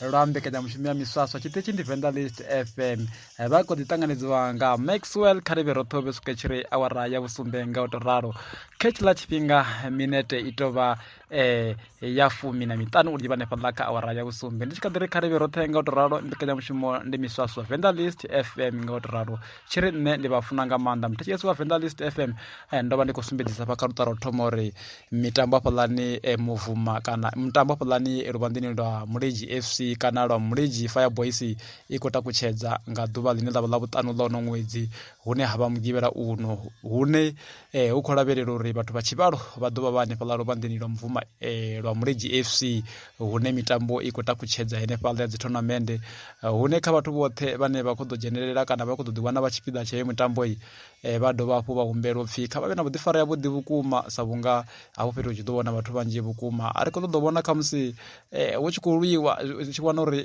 lwa mbekanyamushumo ya miswaswa tshiṱitshi ndi venḓa list fm eh, vha kho ḓi ṱanganedziwa nga maxwell kharivhe roṱhe u vhesukwe tshiri awara ya vhusumbe nga u to ralo khetshi ḽa tshifhinga eh, minete i to vha um ya fumi na miṱanu uri vha nefha ḽa kha awara ya vhusumbe ndi tshi kha ḓi ri kharivhe roṱhe nga u to ralo mbekanyamushumo ndi miswaswa venḓa list fm nga u to ralo tshiri nṋe ndi vha funa nga maanḓa muthetshesi wa venḓa list fm ndo vha ndi khou sumbedzisa vha kha luṱaro thoma uri mitambo hafhaḽani e muvuma kana mitambo hafhaḽani luvhanḓeni lwa mulenzhi fc kana lwa mulenzhi fireboys i khou takutshedza nga ḓuvha ḽine ḽavha ḽa vhuṱanu ḽa uno ṅwedzi hune ha vha mugivhela uno hune eh, hu khou lavhelela uri vhathu vha tshivhalo vha ḓo vha vha hanefhaḽa luvhanḓeni lwa muvuma eh, lwa mulenzhi fc hune mitambo i khou takutshedza henefhaḽa ya dzithonamende eh, hune kha vhathu vhoṱhe vhane vha khou ḓo dzhenelela kana vha khou ḓo ḓiwana vha tshipiḓa tsha heyo mitambo Eh, vha dovha hafhu vha humbela upfhi kha vha vhe na vhuḓifari ya vhuḓi vhukuma sa vhunga hafho fhethu hu tshi ḓo vhona vhathu vhanzhi vhukuma a ri khou ṱoḓa u vhona khamusi eh, hu tshi khou lwiwa u tshi vhona uri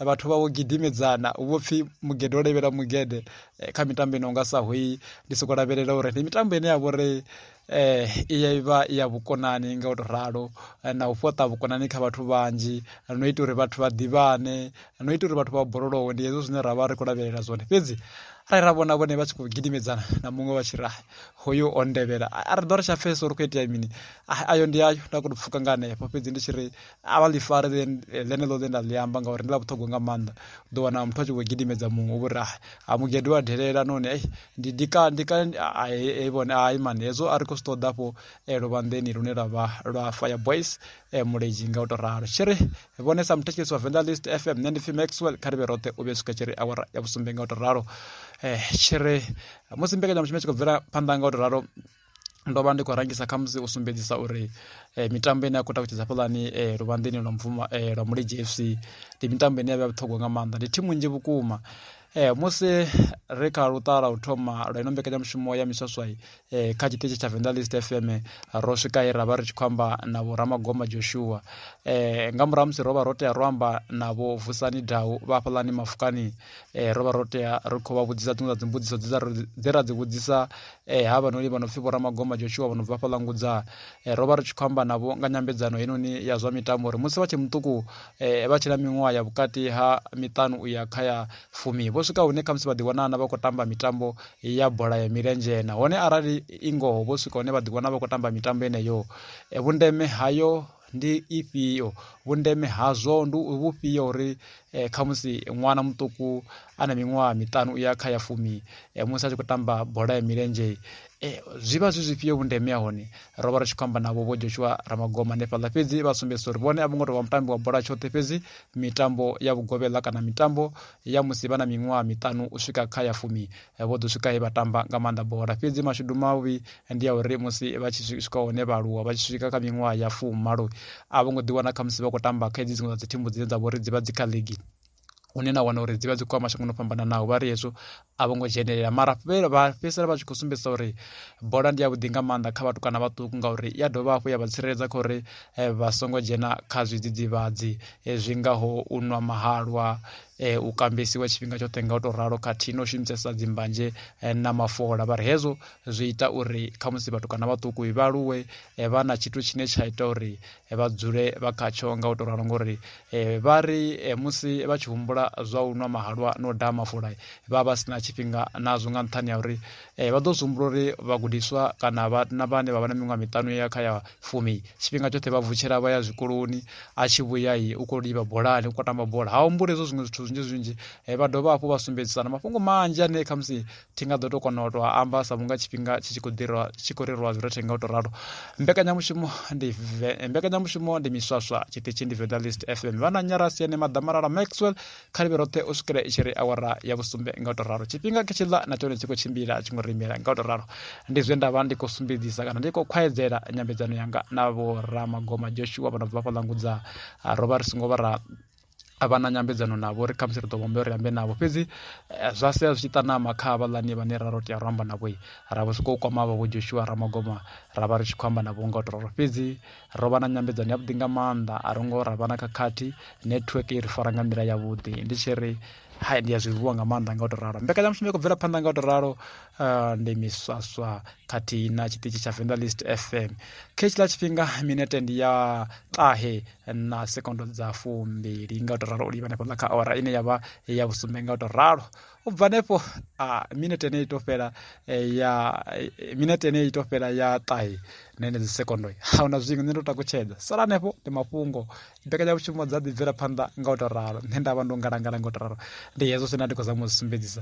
vhathu vha vho gidimedzana hu vho pfhi mugede o levhela mugede eh, kha mitambo ino nga sa hoyi ndi sokou lavhelela uri ndi mitambo ine ya vhori eh i ya ivha ya vhukonani nga u to ralo eh, na u fhaṱa vhukonani kha vhathu vhanzhi eh, no ita uri vhathu vha ḓivhane eh, no ita uri vhathu vha borolowe ndi hezwo zwine ra vha ri khou lavhelela zwone fhedzi arali ra vhona vhone vha tshi khou gidimedzana na muṅwe vha tshi ri hoyo o ndevhela a ri ḓo ri tsha pfhesa uri khou itea mini ayo ndi ayo nda khou pfuka nga hanefho fhedzi ndi tshi ri a vha ḽi fare ḽeneḽo ḽe nda ḽi amba ngauri ndi ḽa vhuṱhogwa nga maanḓa u ḓo wana muthu a tshi vho gidimedza muṅwe u vho ri a mugedo wa delela noni ei ndi ndi ka ndi ka ai vhone ai mani hezwo a ri khou zwi ṱoḓa afho eh, luvhanḓeni lune lwa vha lwa fire boys eh, muledzhi nga u tou ralo tshi ri vhone sa muthetshelesi wa venḓa list fm nṋe ndi pfi maxwell kha ri vhe roṱhe u vhe swika tshi ri awara ya vhusumbe nga u tou ralo eh, tshi ri musi mbekanyamushumo tshi khou bvela phanḓa nga u tou ralo ndo vha ndi khou rangisa kha musi u sumbedzisa uri eh, mitambo ine ya khou takutshedza fhaḽani eh, luvhanḓeni lwa mvuma eh, lwa mulenzhe fc ndi mitambo ine ya vha vhuṱhogwa nga maanḓa ndi thimu nnzhi vhukuma eh, musi ri kha luṱala u thoma lwa ino mbekanyamushumo ya miswaswai eh, kha tshiṱitshi tsha venḓa list fm ro swika he ra vha ri tshi khou amba na vho ramagoma joshua eh, nga murahu musi ro vha ro tea ro amba na vho vusani dau vha fhaḽani mafukani eh, ro vha ro tea ri khou vha vhudzisa dziṅwe dza dzimbudziso dze ra dzi vhudzisa E, ha vhanoni vha no pfi vhoramagoma joshua vho no bva fhaḽa ngudza e, ro vha ri tshi khou amba navho nga nyambedzano heinoni ya zwa mitambo uri musi vha tshe muṱuku e, vha tshi na miṅwaha ya vhukati ha miṱanu u ya kha ya fumi vho swika hune khamusi vha ḓiwana vha khou tamba mitambo ya bola ya milenzhe nahone arali i ngoho vho swika hune vha ḓiwana vha khou tamba mitambo yeneyo e, vhundeme hayo ndi ifhio vhundeme hazwo ndi vhufhio uri eh, khamusi ṅwana muṱuku a na miṅwaha miṱanu u ya kha ya fumi eh, musi a tshi khou tamba bola ya milenzhe eh, zwi vha zwi zwifhio vhundeme ha hone ro vha ri tshi khou amba navho vho joshua ramagoma hanefhaḽa fhedzi vha sumbedzisa uri vhone a vho ngo tou vha mutambi wa bola tshoṱhe fhedzi mitambo ya vhugovhela kana mitambo ya musi vha na miṅwaha miṱanu u swika kha ya fumi eh, vho ḓo swika he vha tamba nga maanḓa bola fhedzi mashudu mavhi eh, ndi ya uri musi vha tshi swika hone vha aluwa vha tshi swika kha miṅwaha ya fumalo a vho ngo ḓiwana kha musi vha khou tamba kha hedzi dziṅwe dza dzithimu dzine dza vho ri dzi vha dzi kha ligi hune na wana uri dzi vha dzi khou ya mashangoni o fhambananaho vha ri hezwo a vho ngo dzhenelela mara vha fhedzisela vha tshi khou sumbedzisa uri bola ndi ya vhuḓi nga maanḓa kha vhathu kana vhaṱuku ngauri i ya dovha hafhu ya vha tsireledza kha uri eh, vha songo dzhena kha zwidzidzivhadzi eh, zwi ngaho u nwa mahalwa eh, u kambesiwa tshifhinga tshoṱhe nga u tou ralo khathihi na u shumisesa dzimbanzhe na mafola vha ri hezwo zwi ita uri khamusi vhathu kana vhaṱuku vha aluwe vha na tshithu tshine tsha ita uri eh, vha dzule vha khatsho nga u tou ralo ngori eh, vha ri eh, musi vha tshi humbula zwa u nwa mahalwa na u daha mafula vha vha si na tshifhinga nazwo nga nṱhani ya uri vha ḓo zwi humbula uri vhagudiswa kana vhana vhane vha vha na miṅwaha miṱanu ya kha ya fumi tshifhinga tshoṱhe vha vutshela vha ya zwikoloni a tshi vhuya i u khou livha bolani u khou tamba bola ha humbula hezwo zwiṅwe zwithu zwinzhi zwinzhi vha dovha hafhu vha sumbedzisana mafhungo manzhi ane khamusi thi nga ḓo tou kona u tou amba sa vhunga tshifhinga tshi tshi khou ḓirwa tshi khou rerwa zwi rothe nga u tou ralo mbekanyamushumo ndi mbekanyamushumo ndi miswaswa tshiṱitshi ndi veda list fm vha na nyarasi ene maḓamalala maxwell kha livhe roṱhe u swikela i tshi ri awara ya vhusumbe nga u tou ralo tshifhinga khe tshiḽa na tshone tshi khou tshimbila tshi ngo rimela nga u tou ralo ndi zwe nda vha ndi khou sumbedzisa kana ndi khou khwaedzela nyambedzano yanga na vho ramagoma joshua vha no bva fhaḽa ngudza ro vha ri songo vha ra a vha na nyambedzano navho ri khamusi ri ḓo vhombea uri ambe navho fhedzi eh, zwa sia zwi tshi ṱanama kha havhaḽani vhane ra ro tea ro amba navho ra vho sokou kwama vha vho joshua ramagoma ra vha ri tshi khou amba navho nga u to ralo fhedzi ro vha na nyambedzano yavhuḓi nga maanḓa a ro ngo ra vha na khakhathi network i ri fara nga nḓila yavhuḓi ndi tshi ri hai ndi a zwi vuwa nga maanḓa nga u to ralo mbekanyamushumo i khou bvela phanḓa nga u to ralo eh, ndi miswaswa khathihi na tshiṱitshi tsha vendelist fm khe tshiḽa tshifhinga minete ndi ya ṱahe na sekondo dza fumbili nga u to ralo u livha hanefho kha awara ine ya vha ya vhusumbe nga u to ralo u bva hanefho minete ene i to fhela eh, ya eh, minete ene i to fhela ya ṱahe na ene dzi sekondo a huna zwiṅwe nṋe ndo takutshedza sala hanefho ndi mafhungo mbekanyamushumo dza ḓibvela phanḓa nga u to ralo nṋe nda vha ndo ngalangala nga u to ralo ndi hezwo zwine ndi khou zama u zwi sumbedzisa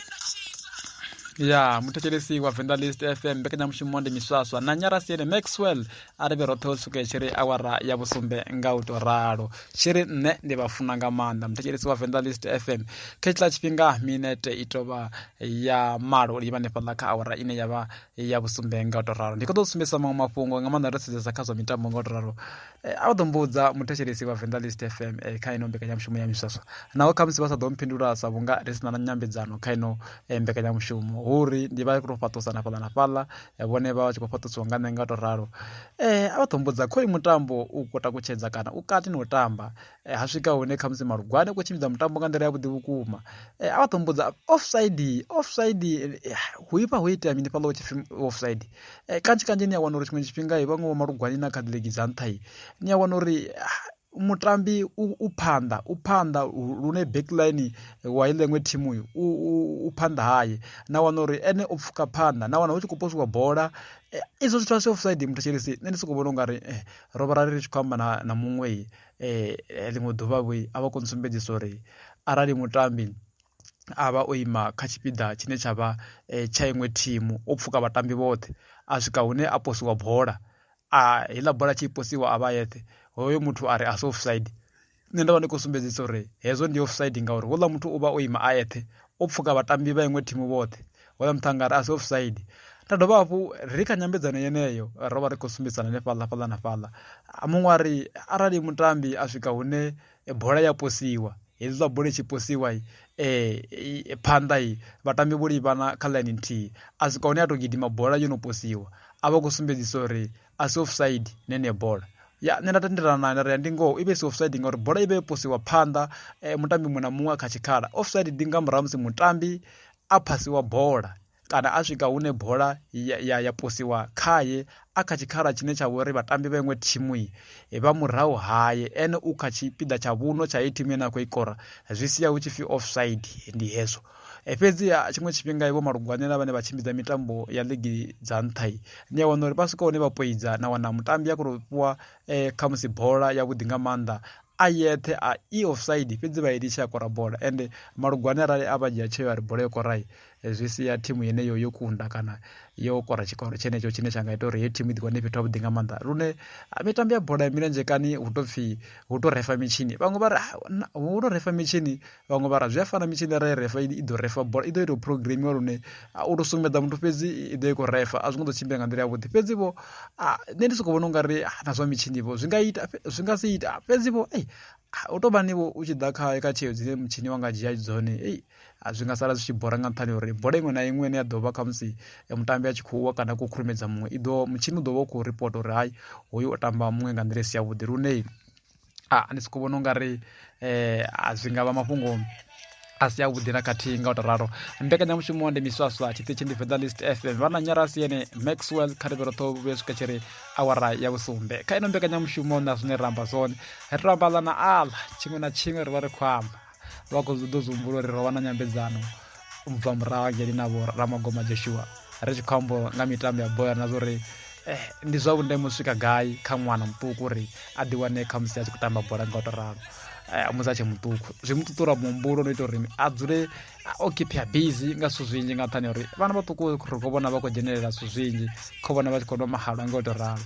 ya muthetshelesi wa venḓa list fm mbekanyamushumo ndi miswaswa na nyarasiene maxwell a ri vhe roṱhe u swika tshi ri awara ya vhusumbe nga u tou ralo tshi ri nṋe ndi vha funa nga maanḓa muthetshelesi wa venḓa list fm kha tshiḽa tshifhinga minete i tovha ya malo uri i vha nefhaḽa kha awara ine ya vha ya vhusumbe nga u tou ralo ndi kho ḓo sumbedzisa maṅwe mafhungo nga maanḓa ro sedzesa kha zwa mitambo nga u tou ralo Eh, a vha ḓo mbudza muthetshelesi wa venḓa list fm eh, kha ino mbekanyamushumo ya miswaswa naho khamusi vha sa ḓo mphindula sa vhunga ri sina na nyambedzano kha ino eh, mbekanyamushumo hu uri ndi vha tou fhaṱusana fhaḽa na fhaḽa eh, vhone vha vha tshi khou fhaṱusiwa nga nṋe nga u tou ralo eh, a vha ḓo mbudza khoyu mutambo u khou takutshedza kana u kati ni u tamba Eh, ha swika hune khamusi malugwane khou tshimbidza mutambo nga nḓila ya vhuḓi vhukuma eh, a vha ṱombodza offside offside eh, hu ipfa ho itea mini fhaḽa tshipfi offside kanzhi kanzhi ni a wana uri tshiṅwe tshifhinga vhaṅwe vho malugwane na kha ḓilegi dza nṱha i ni a wana uri ah, mutambi u phanḓa u phanḓa lune backline wa i ḽeṅwe thimu uyu u phanḓa haye na wana uri ene u pfuka phanḓa na wana hu tshi khou posiwa bola izwo zwithu a si offside muthu tshelesi nṋe ndi sokou vhona u nga ri ro vha ra ri tshi khou amba na muṅwe eh, eh ḽiṅwe ḓuvha vho a vha koni sumbedzisa uri arali mutambi a vha o ima kha tshipiḓa tshine tsha vha eh, tsha iṅwe thimu o pfuka vhatambi vhoṱhe a swika hune a posiwa bola a heiḽa bola tshi posiwa a vha yeṱhe hoyo muthu a ri a si offside nṋe nda vha ndi khou sumbedzisa uri hezwo ndi offside ngauri houḽa muthu u vha o ima a eṱhe o pfuka vhatambi vha iṅwe thimu vhoṱhe hoyo muṱangano a si offside nda dovha hafhu ri kha nyambedzano yeneyo ro vha ri khou sumbedzana nefhaḽa fhaḽa na fhaḽa muṅwe a ri arali mutambi a swika hune bola ya posiwa hezwiḽa bola i tshi posiwa um eh, eh, phanḓa i vhatambi vho livhana kha ḽaini nthihi a swika hune a tou gidima bola yo no posiwa a vha khou sumbedzisa uri a si offside nene bola ya nṋe nda tendelana naye nda ri ya ndi ngoho i vhe si offside ngauri bola i vhe yo posiwa phanḓa um mutambi muṅwe na muṅwe kha tshikhala offside ndi nga murahu musi mutambi a phasiwa bola kana a swika hune bola ya, ya, ya posiwa khaye a kha tshikhala tshine tsha vhori vhatambi vha iṅwe thimu vha murahu haye ene u kha tshipiḓa tsha vhuno tsha iyi thimu ine a khou ikora zwi sia hu tshi pfi offside ndi hezwo e fhedzi tshiṅwe tshifhinga vho malugwanela vhane vha tshimbidza mitambo ya ligi dza nṱha i ni a wana uri vha swika hune vha poidza na wana mutambi a khou fhiwa eh, khamusi bola yavhuḓi nga maanḓa a yeṱhe a i offside fhedzi vha i litsha ya kora bola ende malugwane arali a vha dzhia tsheo ya ri bola yo korai eh, zwi sia thimu yeneyo yo kunda kana yo kora tshikoro tshenetsho tshine tsha nga ita uri heyo thimu i ḓi wane fhethu havhuḓi nga maanḓa lune ah, mitambo ya bola ya milenzhe kani hu to pfhi hu to refa mitshini vhaṅwe vha ri ah, hu to refa mitshini vhaṅwe vha ra zwi a fana mitshini ra i refa i ḓo refa bola i ḓo ita u programiwa lune u tou sukumedza muthu fhedzi i ḓo i khou refa a zwi ngo ḓo tshimbila nga nḓila yavhuḓi fhedzi vho nṋe ndi sokou vhona u nga ri na zwa mitshini vho zwi nga ita zwi nga si ita fhedzi vho ei u tou vha nivho u tshi ḓa kha kha tsheo dzine mutshini wa nga dzhia dzone ei zwi nga sala zwi tshi bora nga nṱhani uri bola iṅwe na iṅwe ine ya ḓo vha khamusi mutambi a tshi khou wa kana a khou khurumedza muṅwe i ḓo mutshini u ḓo vha u khou ripota uri hai hoyu o tamba muṅwe nga nḓila i si yavhuḓi lune a ndi soko vhona ungari um zwi nga vha mafhungo a si avhuḓi na khathihi nga u to ralo mbekanyamushumo ndi miswaswa tshiṱitshi ndi venḓa list fm vha na nyarasi yene maxwell kha ri vheroṱho vhuya swika tshi ri awara ya vhusumbe kha ino mbekanyamushumo na zwine ra amba zwone ri to amba ḽa na aḽa tshiṅwe na tshiṅwe ri vha ri khou amba vha khou ḓo zwi humbula uri ro vha na nyambedzano bva murahu hangeli na vho ramagoma joshua ri tshi khou ambo nga mitambo ya bola na zwa uri eh, ndi zwa vhundeme u swika gai kha ṅwana muṱuku uri a ḓiwane kha musi a tshi khou tamba bola nga u to ralo eh, musi a tshe muṱuku zwi mu ṱuṱula muhumbulo no ita uri a dzule o kipia busy nga zwithu zwinzhi nga nṱhani uri vhana vhaṱuku ri khou vhona vha khou dzhenelela zwithu zwinzhi khou vhona vha tshi khou nwa mahalwa nga u to ralo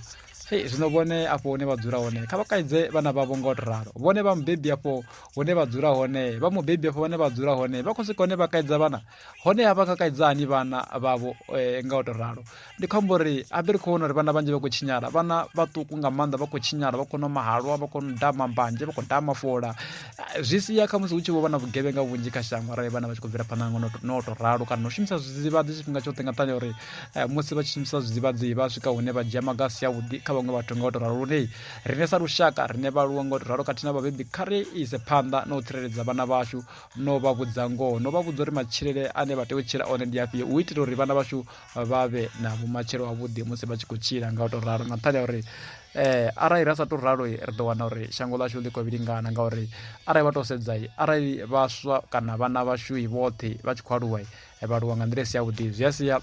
hei zwino vhone afho hune vha dzula hone kha vha kaidze vhana vhavho nga u to ralo vhone vha mubebi afho hune vha dzula hone vha mubebi afho vhane vha dzula hone vha khou swika hone vha kaidza vhana hone ha vha nga kaidza hani vhana vhavho eh, nga u to ralo ndi khombo uri a ḓi ri khou vhona uri vhana vhanzhi vha khou tshinyala vhana vhaṱuku nga maanḓa vha khou tshinyala vha khou nwa mahalwa vha khou daha mambanje vha khou daha mafola eh, zwi sia kha musi hu tshi vho vha na vhugevhenga vhunzhi kha shango arali vhana vha tshi khou bvela phanḓa nga no u to ralo kana u shumisa zwidzivhadzi tshifhinga tshoṱhe nga nṱhani uri eh, musi vha tshi shumisa zwidzivhadzi vha swika hune vha dzhia maga a si avhuḓi kha vhaṅwe vhathu nga u to ralo lune Riṋe sa lushaka, riṋe vhaaluwa nga u tou ralo khathihi na vhabebi, kha ri ise phanḓa na u tsireledza vhana vhashu no vha vhudza ngoho, no vha vhudza uri matshilele ane vha tea u tshila one ndi afhio u itela uri vhana vhashu vha vhe na vhumatshelo havhuḓi musi vha tshi khou tshila nga u tou ralo. Nga nṱhani ha uri eh, arali ra sa tou ralo ri ḓo wana uri shango ḽashu ḽi khou vhilingana ngauri arali vha tou sedza arali vhaswa kana vhana vhashu vhoṱhe vha tshi khou aluwa vha aluwa nga nḓila i si yavhuḓi zwi a sia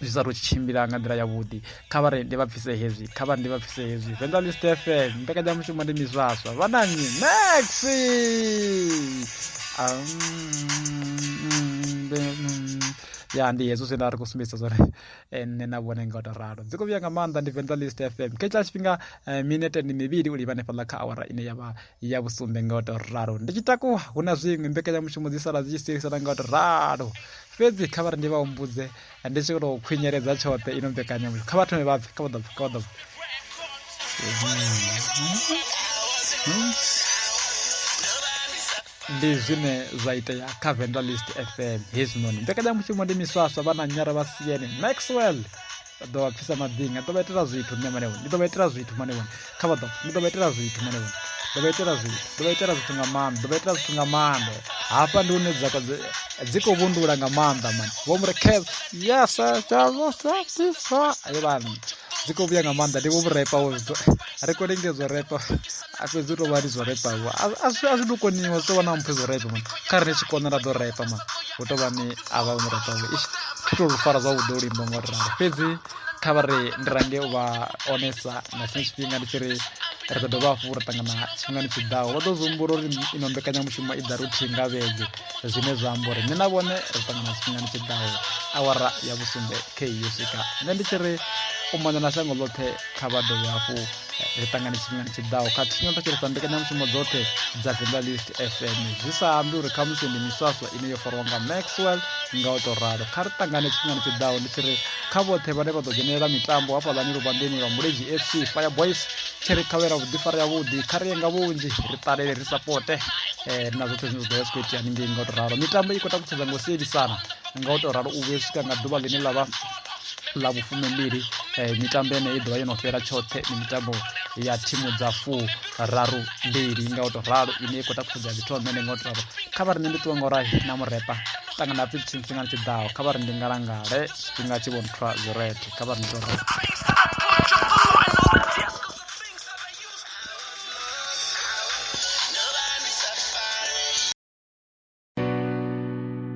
zwi sa tou tshi tshimbila nga nḓila yavhuḓi kha vha ri ndi vha bvise hezwi kha vha ri ndi vha bvise hezwi venḓa list fm mbekanyamushumo ndi mizwaswa vha na nnyi maxi ya ndi hezwo zwine a ri khou sumbedzisa zwone eh, nṋe na vhone nga u to ralo dzi khou vhuya nga maanḓa ndi venḓa list fm khetshila tshifhinga eh, minete ndi mivhili u livha hanefhaḽa kha awara ine ya vha ya vhusumbe nga u tou ralo ndi tshi takuwa hu na zwiṅwe mbekanyamushumo dzi sala dzi tshi sielisana nga u tou ralo fhedzi kha vha ri ndi vha humbudze ndi tshi tou khwinyeledza tshoṱhe ino mbekanyamushumo kha vha thome vha bve kha vha ḓo bve kha vha ḓo bve ndi zwine zwa itea kha vendalist fm hezwinoni mbekanyamushumo ndi miswaswa vha na nyara vha siene maxwell vha ḓo vha pfisa maḓinga ḓo vha itela zwithu nṋe mane ndi ḓo vha itela zwithu mane kha vha ḓo ndi ḓo vha itela zwithu mane ḓo vha itela zwithu ḓo vha itela zwithu nga maanḓa ḓo vha itela zwithu nga maanḓa hafha ndi hune dza dzi khou vhundula nga maanḓa mane vho mu rekeza yes ayo vhana dzi khou vhuya nga maanḓa ndi vho vhurepa wo zwithu ri khou lingedzwa repa a fhedzi u tou vha ri zwo repa vho a zwi a zwi tou koniwa zwi tou vha na mphe zwo repa mani kha ri ni tshi kona ra ḓo repa mani hu tou vha ni a vha mu repa vho ish thi tou lu fara zwavhuḓi u limbo ngo ri ralo fhedzi kha vha ri ndi range u vha onesa nga tshiṅwe tshifhinga ndi tshi ri ri ḓo dovha hafhu ra ṱangana tshifhingani tshi ḓaho vha ḓo zwihumbula uri ino mbekanyamushumo i ḓa ruthihi nga vhege zwine zwa amba uri nṋe na vhone ri ṱangana tshifhingani tshi ḓaho awara ya vhusumbe khe yo swika nṋe ndi tshi ri u mona na shango ḽoṱhe kha vha dovhe hafhu ri ṱangane tshifhingani tshiḓaho kha thinyoto tshi ri sa mbekanyamushumo dzoṱhe dza venḓa list fm zwi sa ambi uri khamusi ndi miswaswa ine yo farwa nga maxwell nga u tou ralo kha ri ṱangane tshifhingani tshiḓaho ndi tshi ri kha vhoṱhe vhane vha ḓo dzhenelela mitambo hafhaḽani luvhanḓeni lwa mulezi fc fire boys tshi ri khavhela vhuḓifari yavhuḓi kha ri ye nga vhunzhi ri ṱalele ri sapote eh, na zwoṱhe zwine zwa ḓo vha zwi khou itea haningei nga u tou ralo mitambo i khou takutshedza ngo sielisana nga u tou ralo u vhuye swika nga ḓuvha ḽine ḽa vha ḽa vhufumimbili eh, mitambo yeneyo i ḓovha yo no fhela tshoṱhe ndi mitambo ya thimu dza fu raru mbili nga u to ralo ine i khou takusedza ya zwithu amene nga u to ralo kha vha ri nṋe ndi ṱuwa nga urahi na murepa ṱangana pfi tshini tshifhingani tshi ḓaho kha vha ri ndi ngalangale tshifhinga tshi vhonthwa zwirethe kha vha ri ndi to ralo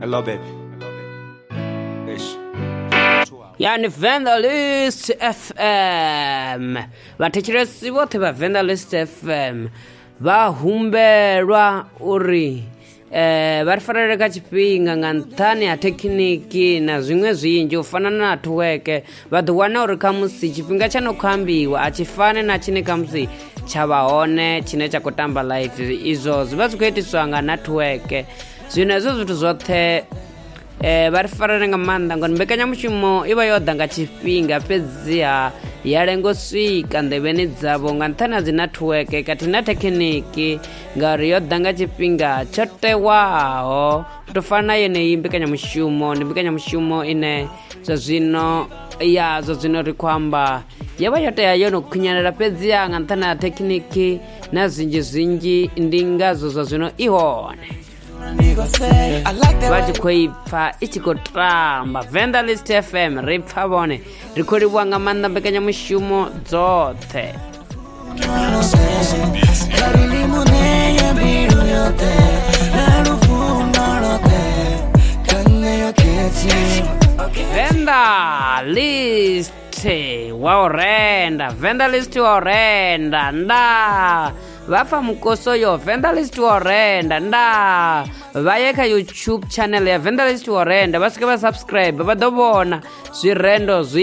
Hello, baby. Ish. ya ni venḓa list fm vhathetshelesi vhoṱhe vha venḓa list fm vha humbelwa uri eh, vha ri farele kha tshifhinga nga nṱhani ha thekhiniki na zwiṅwe zwinzhi u fana na network vha ḓo wana uri khamusi tshifhinga tsha no khou ambiwa a tshi fane na tshine khamusi tsha vha hone tshine tsha khou tamba live izwo zwi vha zwi khou itiswa nga networke zwino hezwo zwithu zwoṱhe um vha ri farane nga maanḓa ngori mbekanyamushumo i vha yo ḓa nga tshifhinga fhedziha ya lengo swika nḓevheni dzavho nga nṱhani ha dzi networke khathihi na thekhiniki ngauri yo ḓa nga tshifhinga tsho tewaho u tou fana na yeneyi mbekanyamushumo ndi mbekanyamushumo ine zwa zwino ya zwa zwino ri khou amba yo vha yo tea yo no khunyelela fhedziha nga nṱhani ha thekhiniki na zwinzhi zwinzhi ndi ngazwo zwa zwino i hone vha tshi khou i pfa i tshi khou tamba venḓa list fm ri pfa vhone ri khou livhuwa nga maanḓa mbekanyamushumo dzoṱhe Venda list wa u renda venda list wa u renda nda vha pfa mukoso yo venda list wa u renda nda vha ye kha youtube channel ya venda list wa u renda vha swike vha subscribe vha ḓo vhona zwirendo zwi